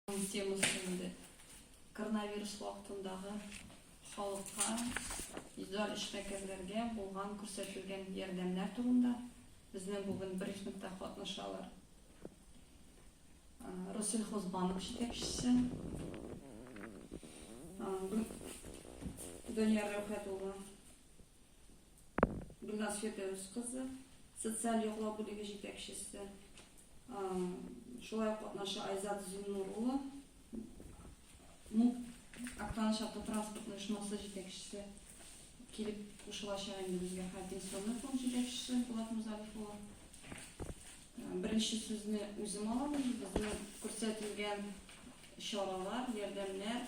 Темасы инде. Коронавирус вакытындагы халыкка индивидуаль эшмәкәрләргә булган күрсәтелгән ярдәмнәр турында безнең бүген брифингта катнашалар. Россельхозбанк җитәкчесе Данияр Рәүхәт улы Гөлназ Фирдәвес кызы, социаль яклау бүлеге җитәкчесе, шулай ук катнаша Айзат Зиннур улы, МУП Актаныш автотранспорт оешмасы җитәкчесе килеп кушылачак инде безгә һәм пенсионный фонд җитәкчесе Булат Музалиф улы. Беренче сүзне үзем алам, безнең күрсәтелгән чаралар, ярдәмнәр,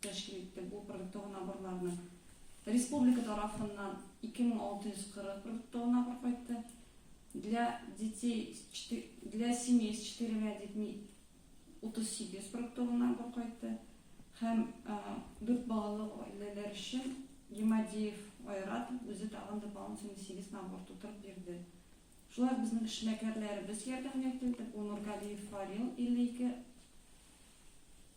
тәшкил итте. Бу продуктовонаборларның республика тарафыннан 2640 продуктовонабор кайтты. Для детей, для семей с четырьмя детьми 38 продуктовонабор кайтты. Һәм дүрт балалы гаиләләр өчен Гемадеев Айрат үзе тагын дополнительный 8 набор тутырып бирде. Шулай ук безнең эшмәкәрләребез ярдәмгә килде. Бу Нургалиев Фарил 52,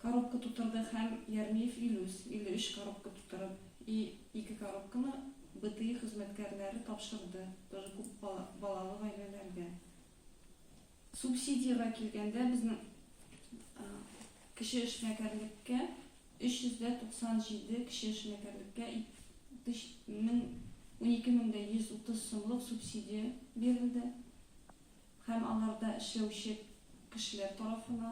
Коробка тутырды һәм Ярмиев Илүс, 53 коробка тутырып, и ике коробканы БТИ хезмәткәрләре тапшырды, тоже күп балалы гаиләләргә. Субсидиягә килгәндә, безнең кече эшмәкәрлеккә 397 кече эшмәкәрлеккә 12130 сумлык субсидия бирелде һәм аларда эшләүче кешеләр тарафына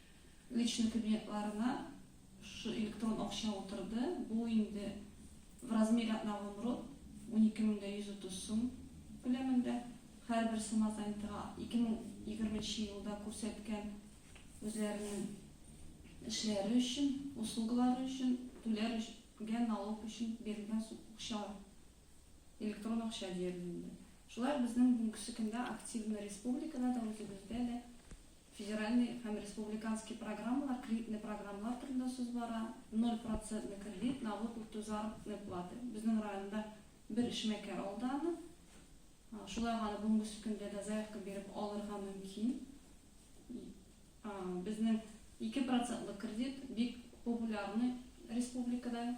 Личный кабинетларына шушы электрон акча утырды, бу инде в размере одного мрот, унике мең дә йөз утыз сум күләмендә, һәрбер самозанятыйга ике мең егерме нче елда күрсәткән үзләренең эшләре өчен, услугалары өчен түләр гән налог өчен бирелгән акчалар, электрон акча диярлек инде. Шулай ук безнең бүгенкесе көндә активны республикада да, үзебездә дә Федеральный һәм республиканский программалар, кредитный программалар турында сүз бара. Ноль процентный кредит, налог үтү, заработная плата. Безнең районда бер эшмәкәр алды аны. Шулай ук аны бүгенге көндә дә заявка биреп алырга мөмкин. Безнең ике процентлы кредит бик популярный республикада.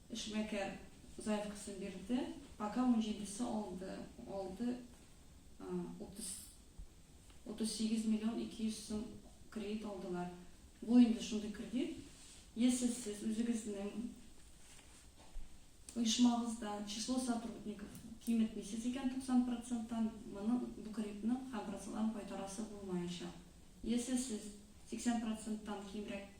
Эшмәкәр заявкасын бирде, пока унҗидесе алды, алды, утыз, утыз сигез миллион ике йөз сум кредит алдылар. Бу инде шундый кредит, если сез үзегезнең оешмагызда число сотрудников киметмисез икән туксан проценттан, моны, бу кредитның һәм процентларын кайтарасы булмаячак. Если сез сиксән проценттан кимрәк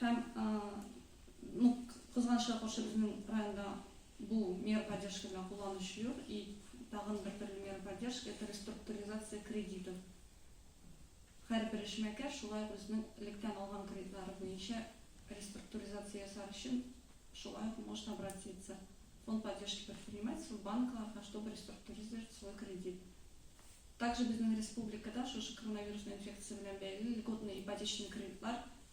Һәм, ну, кызганычка каршы, безнең районда бу мера поддержки белән кулланучы юк. И тагын бер төрле мера поддержки, это реструктуризация кредитов. Һәрбер эшмәкәр шулай ук үзенең электән алган кредитлары буенча реструктуризация ясар өчен шулай ук может обратиться в фонд поддержки предпринимательства, банкларга, чтобы реструктуризировать свой кредит. Также безнең республикада шушы коронавирусный инфекция белән бәйле льготный ипотечный кредитлар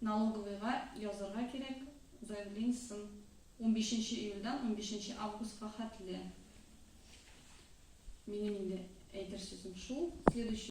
Налоговыйга язарга кирәк заявлениясен унбишенче июльдән унбишенче августка хәтле. Минем инде әйтер сүзем шул. Следующий.